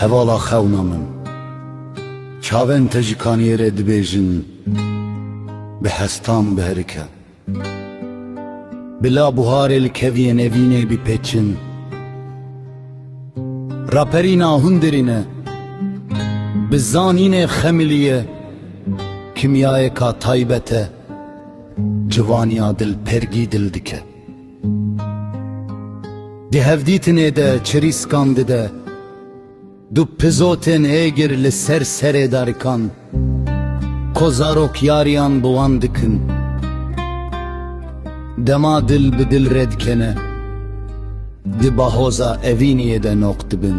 Hevala xewna min. Çavên te ji kaniyê re dibêjin bi hestan biherike. Bila buharê li keviyên evînê bîpêçin. Raperîna hundirîn e. Bi zanînê xemilî ye. Kimyayêka taybet e. Civaniya dil pergî dil dike. Di hevdîtinê de çirîskan dide, du pizotên êgir li ser serê darikan ko zarokyariyan bi wan dikin. Dema dil bi dil re dikene, di bahoza evîniyê de noq dibin.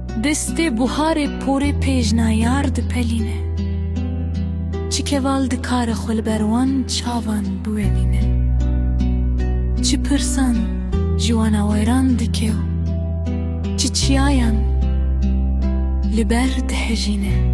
Destê buharê porê pêjna yar dipelîne. Çi keval dikare xwe li ber wan çavan biwenîne. Çi pirsan ji wan aweran dike û çi çiyayan li ber dihejîne.